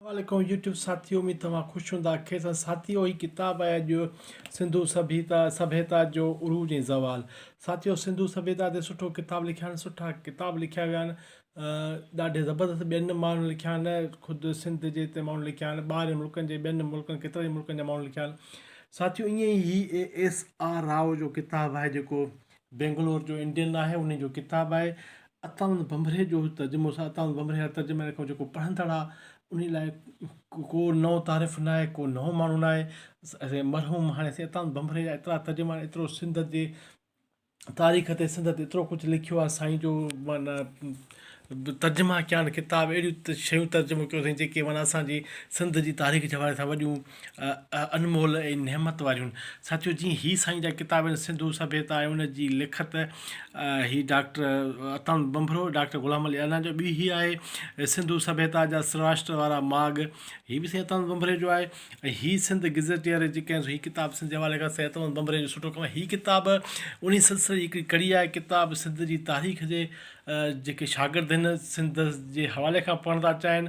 السلام عليڪم يوٽيوب ساٿيو اميد توهان خوش هوندا خير سان ساٿيو هي ڪتاب آهي اڄ سنڌو سڀيتا سڀيتا جو عروج ۽ زوال ساٿيو سنڌو سڀيتا تي سٺو ڪتاب لکيا آهن سٺا ڪتاب لکيا ويا آهن ڏاڍي زبردست ٻين ماڻهن لکيا آهن خود سنڌ جي هتي ماڻهن لکيا آهن ٻاهرين ملڪن جي ٻين ملڪن ڪيترن ئي ملڪن جا ماڻهن لکيا آهن ساٿيو ائين ئي هي اي ايس آر راء جو ڪتاب آهي جيڪو بينگلور جو انڊين آهي انهي جو ڪتاب آهي عطاوند ڀنڀري جو ترجمو سا عطاوند ڀنڀري هر ترجمي واري کان جيڪو پڙهندڙ آ انهي لاء ڪو نئون تعارف ناهي ڪو نئون ماڻهو ناهي سائين مرحوم هاڻي سائين عطاوند ڀنڀري جا ايترا ترجما آهن ايترو سنڌ جي تاريخ تي سنڌ تي ايترو ڪجهه لکيو آهي سائين جو معنيٰ ترجما ڪيا آهن ڪتاب اهڙيون شيون ترجمو ڪيون اٿئي جيڪي معنيٰ اسان جي سنڌ جي تاريخ جي حوالي سان وڏيون انمول ۽ نعمت واريون ساٿيو جي هي سائين جا ڪتاب آهن سنڌو سڀيتا ۽ ان جي لکت هي ڊاڪٽر عطاند ٻنڀرو ڊاڪٽر غلام علي انا جو ٻي هي آهي سنڌو سڀيتا جا سراشٽر وارا ماڳ هي به سائين عطاند ٻنڀري جو آهي ۽ هي سنڌ گزيٽيئر جي ڪنهن هي ڪتاب سنڌ جي حوالي کان سائين عطاند ٻنڀري جو سٺو ڪم آهي هي ڪتاب انهي سلسلي جي هڪڙي ڪڙي آهي ڪتاب سنڌ جي تاريخ جي جيڪي شاگرد آهن سنڌ جي حوالي کان پڙهڻ ٿا چاهن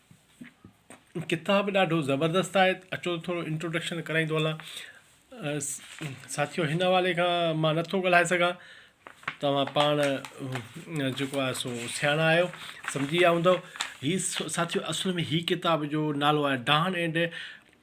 ڪتاب ڏاڍو زبردست آهي اچو ته ٿورو انٽروڊڪشن ڪرائين ٿو هلان ساٿيو هن حوالي کان مان نٿو ڳالهائي سگهان توهان پاڻ جيڪو آهي سو سياڻا آهيو سمجهي ويا هوندو هي ساٿيو اصل ۾ هي ڪتاب جو نالو آهي ڊان اينڊ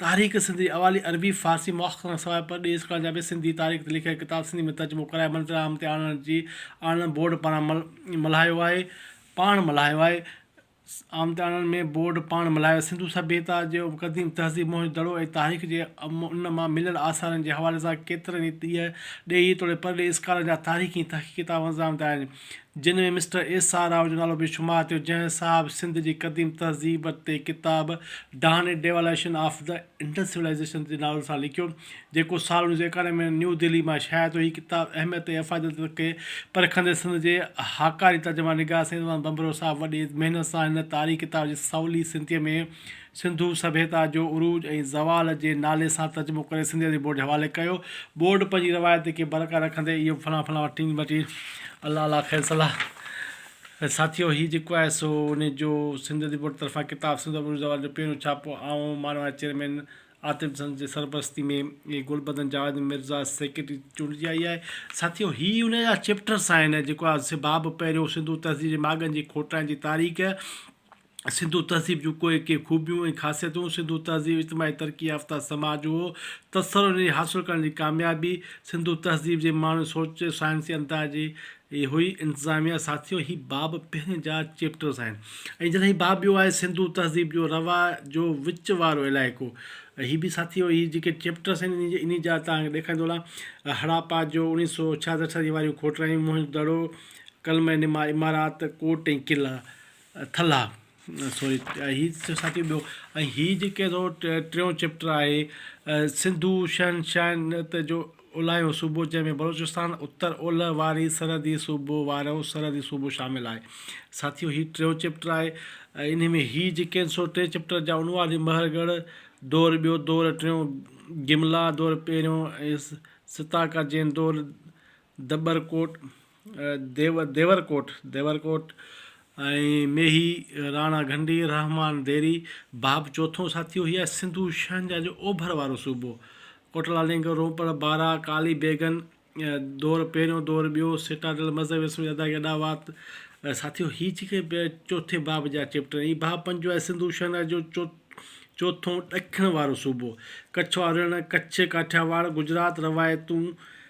تحريڪ سنڌي اوالي عربي فارسي مؤخر کان سواء پرڏيهي اسڪولن جا به سنڌي تاريخ تي لکيل ڪتاب سنڌي ۾ ترجمو ڪرائي منظر عام تي آڻڻ جي آڻڻ بورڊ پاران ملهايو آهي پاڻ ملهايو آهي عام تي آڻڻ ۾ بورڊ پاڻ ملهايو سنڌو سڀيتا جو قديم تهذيب موهن دڙو ۽ تاريخ جي ان مان مليل آثارن جي حوالي سان ڪيترن ئي ڏيهي توڙي پرڏيهي اسڪالرن جا تاريخي ۽ تحقيقي ڪتاب منظر عام تي آيا آهن جن ۾ مسٽر ايس آر راء جو نالو به شمار ٿيو، جنهن صاحب سنڌ جي قديم تهذيب تي ڪتاب ڊاني devolution of the Indus civilisation جي نالي سان لکيو، جيڪو سال اڻويهه سؤ ايڪانوي ۾ نيو دهلي مان شايع ٿيو. هي ڪتاب اهميت ۽ افاديت کي پرکندي سنڌ جي هاڪاري ترجمان نگار سيد محمد ڀنڀرو صاحب وڏي محنت سان هن تاريخي ڪتاب جي سولي سنڌيء ۾ سنڌو سڀيتا جو عروج ۽ زوال جي نالي سان ترجمو ڪري سنڌي ادبي بورڊ جي حوالي ڪيو. بورڊ پنهنجي روايت کي برقرار رکندي اهو فلان فلان وٽ ٽنگ وٽي الله الله خير صلاح ۽ ساٿيو هي جيڪو آهي سو انهي جو سنڌ ادبي بورڊ طرفان ڪتاب سنڌو ادب عروج زوال جو پهريون ڇاپو آئون مان واري چيئرمين عاطف حسن جي سرپرستي ۾ ۽ گلبدن جاويد مرزا سيڪريٽري چونڊجي آئي آهي. ساٿيو هي انهي جا چيپٽرس آهن جيڪو آهي سي باب پهريون سنڌو تهذيب جي ماڳن جي کوٽائن جي تاريخ، سنڌو تهذيب جون ڪوئي ڪي خوبيون ۽ خاصيتون، سنڌو تهذيب اجتماعي ترقي يافته سماج هو، تسلسل جي حاصل ڪرڻ جي ڪاميابي، سنڌو تهذيب جي ماڻهن سوچ، سائنسي انداز جي هئي، انتظاميه، ساٿيو هي باب پهرين جا چيپٽرز آهن ۽ جڏهن هي باب ٻيو آهي سنڌو تهذيب جو رواء جو وچ وارو علائقو هي به ساٿيو هي جيڪي چيپٽرز آهن انهي جا توهان کي ڏيکاريندو هلان هڙاپا جو اوڻيهه سو ڇاهه سٺ صدي واريون کوٽرائيون، موهن دڙو، ڪلمه نما عمارات، ڪوٽ ۽ قلعا. ٿلها سوري هي ساقي ٻيو ۽ هي جيڪي ٿو ٽيون چيپٽر آهي سنڌو شهنشاهيت جو اولاهيون صوبو جنهن ۾ بلوچستان اتر اولهه واري سرحدي صوبو وارو سرحدي صوبو شامل آهي ساٿيو هي ٽيون چيپٽر آهي انهي ۾ هي جيڪي سو ٽي چيپٽر جا عنوان آهن مهر ڳڙهه دور ٻيو دور ٽيون گملا دور پهريون ستاڪا جين دور دٻر ڪوٽ ديورڪوٽ، Devarkot، ۽ ميهي، راڻا گهنڊي، رحمان ديري، باب چوٿون ساٿيو هي آهي سنڌو شهنجاهه جو اوڀر وارو صوبو. ڪوٽلا لينگر، روپڙ، بارا، ڪالي بيگن، دور پهريون دور ٻيو، سٽاڊل، مذهبي رسمن جي ادائگي اڏا وات ساٿيو هي جيڪي چوٿين باب جا چيپٽر آهن هي باب پنجون آهي سنڌو شهنجاهه جو چوٿون ڏکڻ وارو صوبو ڪڇ وارو رڻ ڪڇ ڪاٺياواڙ گجرات روايتون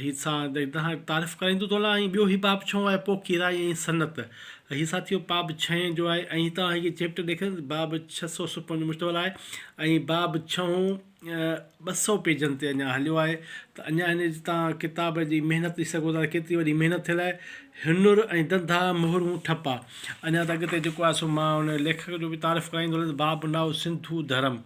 هي سا دهاڻ تعارف ڪرائيندو تو لا ۽ ٻيو هي باب ڇهون آهي پوء ڪيرائي ۽ سنت هي سا ٿيو باب ڇهين جو آهي ۽ هتان هي چيپٽر ڏيکن باب ڇهه سؤ سڪون جو مشتمل آهي ۽ باب ڇهون ٻه سؤ پيجن تي اڃا هليو آهي ته اڃا هن جي تان ڪتاب جي محنت ڏسي سگهو ٿا ڪيتري وڏي محنت ٿيل آهي هنر ۽ دندا مهرون ٺپا اڃا ته اڳتي جيڪو آهي سو مان ان ليکڪ جو به تعارف ڪرائيندو هلندس باب نائو سنڌو ڌرم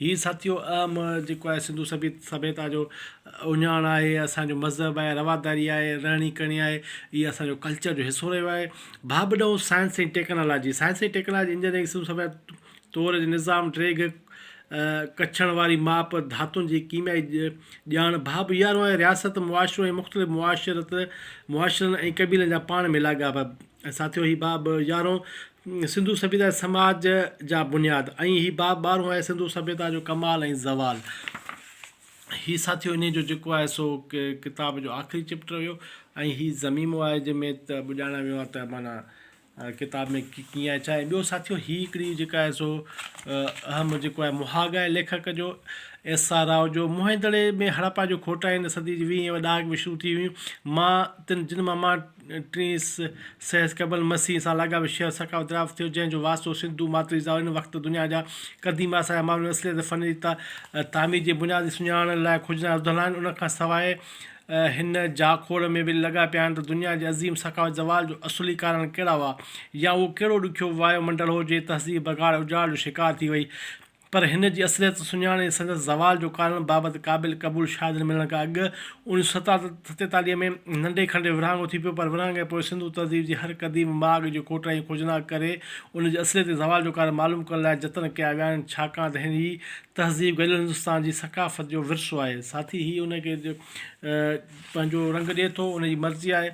هي ساٿيو اهم جيڪو آهي سنڌو سڀيتا جو اهڃاڻ آهي اسان جو مذهب آهي رواداري آهي رهڻي ڪهڻي آهي هي اسان جو ڪلچر جو حصو رهيو آهي ڀاٻ ڏهون science ۽ technology science ۽ technology engineering Sindhu سڀيتا طور جي نظام ڊريگهه ڪڇڻ واري ماپ ڌاتن جي ڪيميائي ڄاڻ ڀاٻ يارهون آهي رياست معاشرو ۽ مختلف معاشرت معاشرن ۽ قبيلن جا پاڻ ۾ لاڳاپا ساٿيو هي باب يارهون سنڌو سڀيتا ۽ سماج جا بنياد ۽ هي باب ٻارهون آهي سنڌو سڀيتا جو ڪمال ۽ زوال. هي ساٿيو انهي جو جيڪو آهي سو ڪتاب جو آخري چيپٽر هيو ۽ هي ضميمو آهي جنهن ۾ ته ٻڄاڻا ويو آهي ته معنيٰ ڪتاب ۾ ڪيئن آهي ڇا آهي. ٻيو ساٿيو هي هڪڙي جيڪا آهي سو اهم جيڪو آهي مهاڳ آهي ليکڪ جو ايس آر راء جو موهن دڙي ۾ هڙپا جو کوٽائين صدي جي ويهين ڏهاڪ ۾ شروع ٿي هيون مان تن جن مان مان ٽين سيس قبل مسيح سان لاڳاپيل شهر سقا دراف ٿيو، جنهن جو واسطو سنڌو ماٿري زاهو ان وقت دنيا جا قديم آثار ۽ ماڻهن جي اصليت فن جي تعمير جي بنياد سڃاڻڻ لاء کجندا رڌل آهن. ان کان سواء هن جاکوڙ ۾ به لڳا پيا آهن ته دنيا جي عظيم ثقافت زوال جو اصلي ڪارڻ ڪهڙا هئا يا اهو ڪهڙو ڏکيو وايو منڊل هو جنهن تهذيب بگاڙ ۽ اجاڙ جو شڪار ٿي وئي. پر هن جي اصليت سڃاڻي سندس زوال جو ڪارڻ بابت قابل قبول شاهدن ملڻ کان اڳ اوڻيھ سئو ستيتاليھ ۾ ننڍي کنڊي ورهاڱو ٿي پيو پر ورهاڱي ۽ پوء سنڌو تهذيب جي هر قديم ماڳ جو کوٽائي ۽ کوجناڪ ڪري ان جي اصليتي زوال جو ڪارڻ معلوم ڪرڻ لاء جتن ڪيا ويا آهن ڇاڪاڻ ته هي تهذيب گڏيل هندستان جي ثقافت جو ورثو آهي ساٿي هي ان کي پنهنجو رنگ ڏئي ٿو ان جي مرضي آهي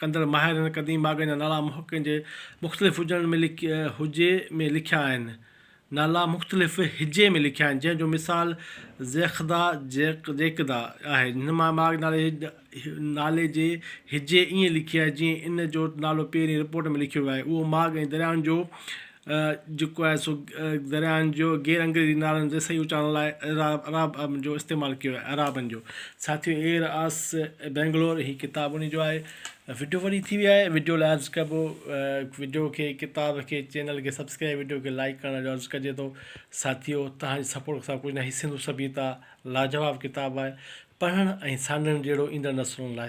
ڪندڙ ماهرن قديم باغن جا نالا محققن جي مختلف هجڻ ۾ هجي ۾ لکيا آهن. نالا مختلف هجي ۾ لکيا آهن، جنهن جو مثال زيخدا، Zékda، آهي. هن مان باغ نالي نالي جي هجي ائين لکي آهي، جيئن ان جو نالو پهرين رپورٽ ۾ لکيو ويو آهي. اهو ماڳ ۽ دريائن جو جيڪو آهي سو درياهن جو غير انگريزي نالن زي صحيح اچارڻ لاء عراب ابن جو استعمال ڪيو آهي عرابن جو ساٿيو ايئر آس بينگلور هي ڪتاب انهي جو آهي وڊيو وڏي ٿي وئي آهي وڊيو لاء عرض ڪبو وڊيو کي ڪتاب کي چينل کي سبسڪرائب وڊيو کي لائڪ ڪرڻ جو عرض ڪجي ٿو ساٿيو توهان جي سپورٽ سان ڪجهه نه هي سنڌو سڀيتا لاجواب ڪتاب آهي پڙهڻ ۽ سانڍڻ جهڙو ايندڙ نسلن لاء